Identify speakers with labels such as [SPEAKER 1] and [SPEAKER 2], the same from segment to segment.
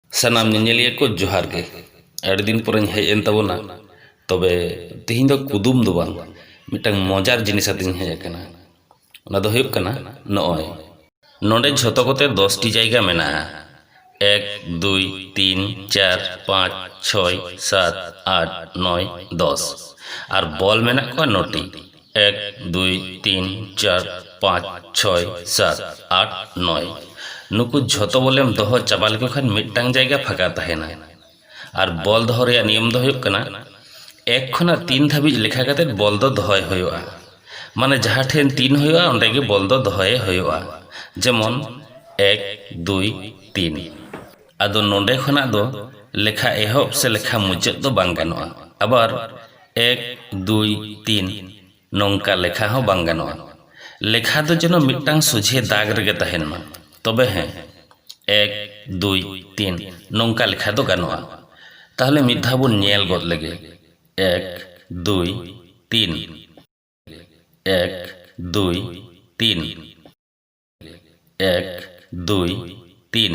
[SPEAKER 1] ᱥᱟᱱᱟᱢ ᱧᱮᱧᱮᱞᱤᱭᱟᱹ ᱠᱚ ᱡᱚᱦᱟᱨ ᱜᱮ ᱟᱹᱰᱤ ᱫᱤᱱ ᱯᱚᱨᱮᱧ ᱦᱮᱡ ᱮᱱ ᱛᱟᱵᱚᱱᱟ ᱛᱚᱵᱮ ᱛᱮᱦᱮᱧ ᱫᱚ ᱠᱩᱫᱩᱢ ᱫᱚ ᱵᱟᱝ ᱢᱤᱫᱴᱟᱝ ᱢᱚᱡᱟᱨ ᱡᱤᱱᱤᱥ ᱟᱛᱮᱧ ᱦᱮᱡ ᱟᱠᱟᱱᱟ ᱚᱱᱟ ᱫᱚ ᱦᱩᱭᱩᱜ ᱠᱟᱱᱟ ᱱᱚᱜᱼᱚᱭ ᱱᱚᱰᱮ ᱡᱷᱚᱛᱚ ᱠᱚᱛᱮ ᱫᱚᱥᱴᱤ ᱡᱟᱭᱜᱟ ᱢᱮᱱᱟᱜᱼᱟ ᱮᱠ ᱫᱩᱭ ᱛᱤᱱ ᱪᱟᱨ ᱯᱟᱸᱪ ᱪᱷᱚᱭ ᱥᱟᱛ ᱟᱴ ᱱᱚᱭ ᱫᱚᱥ ᱟᱨ ᱵᱚᱞ ᱢᱮᱱᱟᱜ ᱠᱚᱣᱟ ᱱᱚᱴᱤ ᱮᱠ ᱫᱩᱭ ᱛᱤᱱ ᱪᱟᱨ ᱯᱟᱸᱪ ᱪᱷᱚᱭ ᱥᱟᱛ ᱟᱴ ᱱᱚᱭ ᱱᱩᱠᱩ ᱡᱷᱚᱛᱚ ᱵᱚᱞᱮᱢ ᱫᱚᱦᱚ ᱪᱟᱵᱟ ᱞᱮᱠᱚ ᱠᱷᱟᱱ ᱢᱤᱫᱴᱟᱝ ᱡᱟᱭᱜᱟ ᱯᱷᱟᱸᱠᱟ ᱛᱟᱦᱮᱱᱟ ᱟᱨ ᱵᱚᱞ ᱫᱚᱦᱚ ᱨᱮᱭᱟᱜ ᱱᱤᱭᱚᱢ ᱫᱚ ᱦᱩᱭᱩᱜ ᱠᱟᱱᱟ ᱮᱠ ᱠᱷᱚᱱᱟᱜ ᱛᱤᱱ ᱫᱷᱟᱹᱵᱤᱡ ᱞᱮᱠᱷᱟ ᱠᱟᱛᱮᱫ ᱵᱚᱞ ᱫᱚ ᱫᱚᱦᱚᱭ ᱦᱩᱭᱩᱜᱼᱟ ᱢᱟᱱᱮ ᱡᱟᱦᱟᱸ ᱴᱷᱮᱱ ᱛᱤᱱ ᱦᱩᱭᱩᱜᱼᱟ ᱚᱸᱰᱮ ᱜᱮ ᱵᱚᱞ ᱫᱚ ᱫᱚᱦᱚᱭᱮ ᱦᱩᱭᱩᱜᱼᱟ ᱡᱮᱢᱚᱱ ᱮᱠ ᱫᱩᱭ ᱛᱤᱱ ᱟᱫᱚ ᱱᱚᱸᱰᱮ ᱠᱷᱚᱱᱟᱜ ᱫᱚ ᱞᱮᱠᱷᱟ ᱮᱦᱚᱵ ᱥᱮ ᱞᱮᱠᱷᱟ ᱢᱩᱪᱟᱹᱫ ᱫᱚ ᱵᱟᱝ ᱜᱟᱱᱚᱜᱼᱟ ᱟᱵᱟᱨ ᱮᱠ ᱫᱩᱭ ᱛᱤᱱ ᱱᱚᱝᱠᱟ ᱞᱮᱠᱷᱟ ᱦᱚᱸ ᱵᱟᱝ ᱜᱟᱱᱚᱜᱼᱟ ᱞᱮᱠᱷᱟ ᱫᱚ ᱡᱮᱱᱚ ᱢᱤᱫᱴᱟᱝ ᱥᱚᱡᱷᱮ ᱫᱟᱜᱽ ᱨᱮᱜᱮ ᱛᱟᱦᱮᱱ ᱢᱟ ᱛᱚᱵᱮ ᱦᱮᱸ ᱮᱠ ᱫᱩᱭ ᱛᱤᱱ ᱱᱚᱝᱠᱟ ᱞᱮᱠᱷᱟ ᱫᱚ ᱜᱟᱱᱚᱜᱼᱟ ᱛᱟᱦᱚᱞᱮ ᱢᱤᱫ ᱫᱷᱟᱣ ᱵᱚᱱ ᱧᱮᱞ ᱜᱚᱫ ᱞᱮᱜᱮ ᱮᱠ ᱫᱩᱭ ᱛᱤᱱ ᱮᱠ ᱫᱩᱭ ᱛᱤᱱ ᱮᱠ ᱫᱩᱭ ᱛᱤᱱ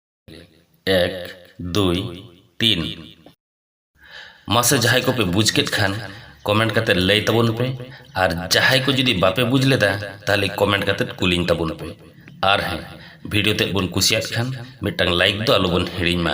[SPEAKER 1] ᱮᱠ ᱫᱩᱭ ᱛᱤᱱ ᱢᱟᱥᱮ ᱡᱟᱦᱟᱸᱭ ᱠᱚᱯᱮ ᱵᱩᱡᱽ ᱠᱮᱫ ᱠᱷᱟᱱ ᱠᱚᱢᱮᱱᱴ ᱠᱟᱛᱮ ᱞᱟᱹᱭ ᱛᱟᱵᱚᱱ ᱯᱮ ᱟᱨ ᱡᱟᱦᱟᱸᱭ ᱠᱚ ᱡᱩᱫᱤ ᱵᱟᱯᱮ ᱵᱩᱡᱽ ᱞᱮᱫᱟ ᱛᱟᱦᱚᱞᱮ ᱠᱚᱢᱮᱱᱴ ᱠᱟᱛᱮ ᱠᱩᱞᱤᱧ ᱛᱟᱵᱚᱱ ᱯᱮ ᱟᱨ ᱦᱮᱸ ᱵᱷᱤᱰᱤᱭᱳ ᱛᱮᱫ ᱵᱚᱱ ᱠᱩᱥᱤᱭᱟᱫ ᱠᱷᱟᱱ ᱢᱤᱫᱴᱟᱝ ᱞᱟᱭᱤᱠ ᱫᱚ ᱟᱞᱚᱵᱚᱱ ᱦᱤᱲᱤᱧ ᱢᱟ